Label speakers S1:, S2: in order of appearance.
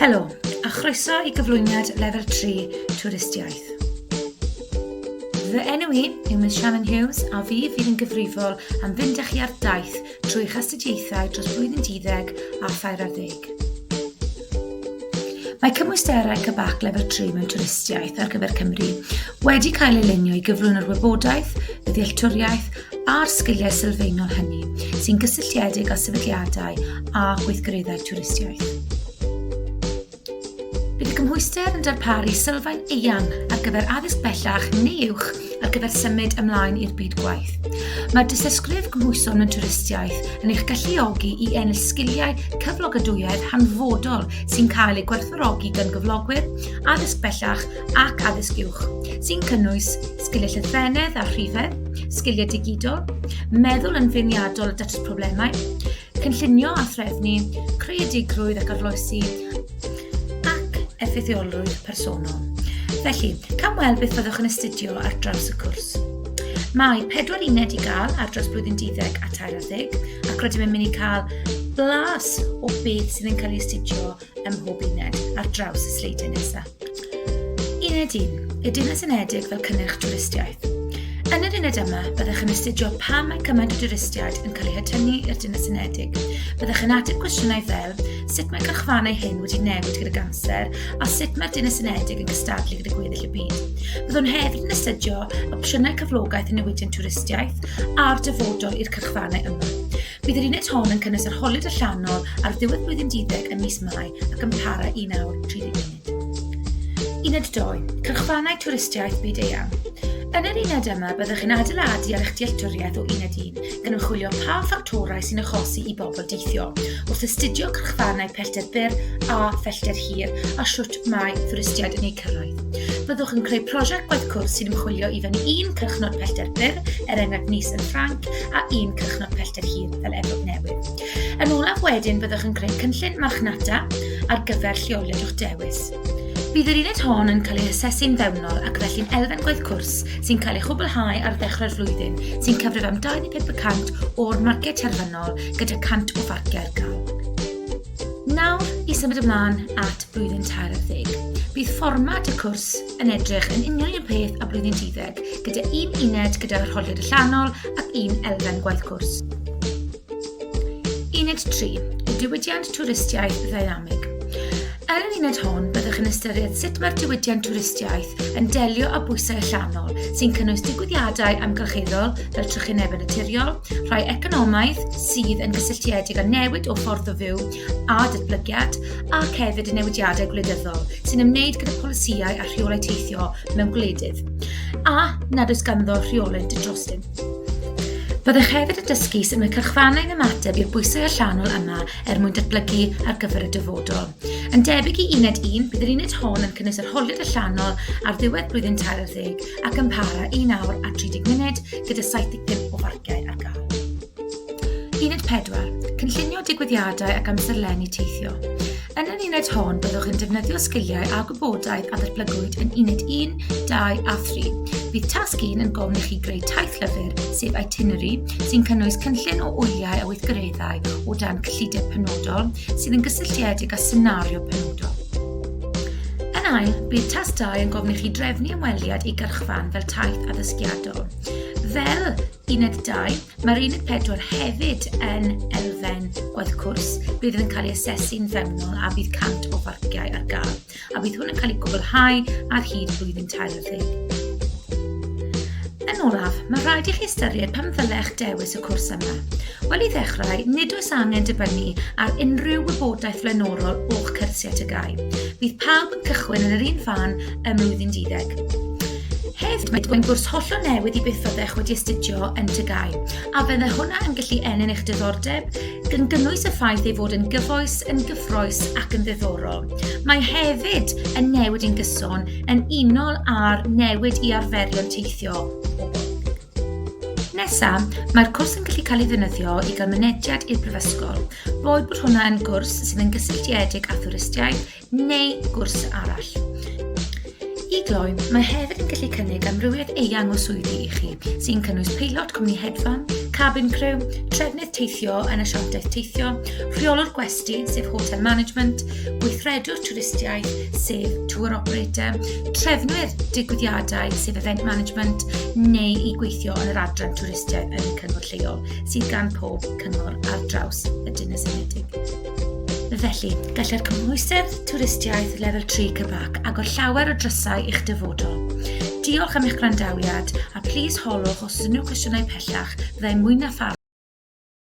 S1: Helo, a chroeso i gyflwyniad lefel 3 twristiaeth. Fy enw i yw Miss Shannon Hughes a fi fydd yn gyfrifol am fynd â chi ar daith trwy chastudiaethau dros flwyddyn 12 a thair ar ddeg. Mae cymwysterau cybac lefel 3 mewn twristiaeth ar gyfer Cymru wedi cael ei lunio i gyflwyno'r wybodaeth, y ddealltwriaeth a'r sgiliau sylfaenol hynny sy'n gysylltiedig â sefydliadau a gweithgareddau twristiaeth. Bydd y cymhwyster yn darparu sylfaen eang ar gyfer addysg bellach neu uwch ar gyfer symud ymlaen i'r byd gwaith. Mae dysysgrif gymhwyson mewn twristiaeth yn eich galluogi i ennill sgiliau cyflogadwyedd hanfodol sy'n cael eu gwerthfawrogi gan gyflogwyr, addysg bellach ac addysg uwch, sy'n cynnwys sgiliau llythrennedd a rhifedd, sgiliau digidol, meddwl yn feirniadol a datrys problemau, cynllunio a threfnu, creadigrwydd ac arloesi, ac effeithiolrwydd personol. Felly, cam weld beth fyddwch yn astudio ar draws y cwrs. Mae pedwar uned i gael ar dros blwyddyn 12 a 13 ac rydym yn mynd i cael blas o beth sydd yn cael ei astudio ym mhob uned ar draws y sleidiau nesaf. Uned 1, y Dinas Unedig fel cynnyrch twristiaeth. Yn yr uned yma, byddwch yn astudio pam mae cymaint o dwristiaid yn cael eu hatynnu i'r Dinas Unedig. Byddwch yn ateb cwestiynau fel sut mae cyrchfannau hyn wedi newid gyda'r amser a sut mae'r Dinas Unedig yn cystadlu gyda gweddill y byd. Byddwn hefyd yn astudio opsiynau cyflogaeth i newidion twristiaeth a'r dyfodol i'r cyrchfannau yma. Bydd yr uned hon yn cynnwys arholiad allanol ar ddiwedd blwyddyn diddeg ym mis Mai ac yn para i nawr 30 munud. Uned 2. Cyrchfannau twristiaeth byd eang. Yn yr uned yma, byddwch yn adeiladu ar eich dealltwriaeth o uned 1, gan ymchwilio pa ffactorau sy'n achosi i bobl deithio, wrth astudio cyrchfannau pellter byr a phellter hir a siwt mae twristiaid yn eu cyrraedd. Byddwch yn creu prosiect gwaith cwrs sy'n ymchwilio i fyny un crychnod pellter byr, er enghraifft nis yn Ffranc, a un crychnod pellter hir fel Efrog Newydd. Yn olaf wedyn, byddwch yn creu cynllun marchnata ar gyfer lleoliad o'ch dewis. Bydd yr uned hon yn cael ei asesu'n fewnol ac felly'n elfen gwaith cwrs sy'n cael ei chwblhau ar ddechrau'r flwyddyn sy'n cyfrif am 25% o'r marced terfynol gyda 100 o farciau'r gael. Nawr i symud ymlaen at blwyddyn tair ar ddeg. Bydd fformat y cwrs yn edrych yn union un peth a blwyddyn 12, gyda un uned gyda rholiad allanol ac un elfen gwaith cwrs. Uned 3, y diwydiant twristiaeth ddynamig. Yn yr uned hon, byddwch yn ystyried sut mae'r diwydiant twristiaeth yn delio â bwysau allanol sy'n cynnwys digwyddiadau amgylcheddol fel trychinebau naturiol, rhai economaidd, sydd yn gysylltiedig â newid o ffordd o fyw a datblygiad ac hefyd y newidiadau gwleidyddol sy'n ymwneud gyda polisïau a rheolau teithio mewn gwledydd a nad oes ganddo rheolau didrosyn. Byddech hefyd yn dysgu sut mae cyrchfannau yn ymateb i'r bwysau allanol yma er mwyn datblygu ar gyfer y dyfodol. Yn debyg i uned 1, bydd yr uned hon yn cynnwys yr holiad allanol ar ddiwedd blwyddyn 30 ac yn para un awr a 30 munud gyda 75 o farciau ar gael. Uned 4. Cynllunio digwyddiadau ac amserlenni teithio. Yn yr uned hon, byddwch yn defnyddio sgiliau a gwybodaeth a ddatblygwyd yn uned 1, 2 a 3. Bydd tasg 1 yn gofyn i chi greu taith lyfr, sef itinerary, sy'n cynnwys cynllun o wyliau a weithgareddau o dan cyllideb penodol sydd yn gysylltiedig â senario penodol. Yn ail, bydd tas 2 yn gofyn i chi drefnu ymweliad i gyrchfan fel taith addysgiadol. Fel Uned 2, mae'r Uned 4 hefyd yn elfen gwaith cwrs. Bydd yn cael ei asesu'n fewnol a bydd 100 o farciau ar gael, a bydd hwn yn cael ei gwblhau ar hyd blwyddyn 40. Yn olaf, mae rhaid i chi ystyried pam ddylech dewis y cwrs yma. Wel i ddechrau, nid oes angen dibynnu ar unrhyw wybodaeth flaenorol o'ch cyrsiau tygau. Bydd pawb yn cychwyn yn yr un fan ym mlwyddyn 12. Hefyd, mae dwyn gwrs hollol newydd i byth fyddech wedi astudio yn Tygau, a bydde hwnna yn gallu ennyn eich diddordeb, gan gynnwys y ffaith ei fod yn gyfoes, yn gyffroes ac yn ddiddorol. Mae hefyd yn newid i'n gyson yn unol â'r newid i arferion teithio Nesaf, mae'r cwrs yn gallu cael ei ddefnyddio i gael mynediad i'r Brifysgol, boed bod hwnna yn gwrs sydd yn gysylltiedig â thwristiaeth, neu gwrs arall. I gloi, mae hefyd yn gallu cynnig amrywiaeth eang o swyddi i chi, sy'n cynnwys peilot cwmni hedfan, cabin crew, trefnydd teithio yn y siantaeth teithio, rheolwr gwesti, sef hotel management, gweithredwr twristiaeth, sef tour operator, trefnwyr digwyddiadau, sef event management, neu i gweithio yn yr adran twristiaeth yn y cyngor lleol, sydd gan pob cyngor ar draws y Dinas Unedig. Felly, gallai'r cymhwysedd twristiaeth lefel 3 cyfac agor llawer o drysau i'ch dyfodol. Diolch am eich gwrandawiad a plis holwch os ydyn nhw cwestiynau pellach fyddai mwy na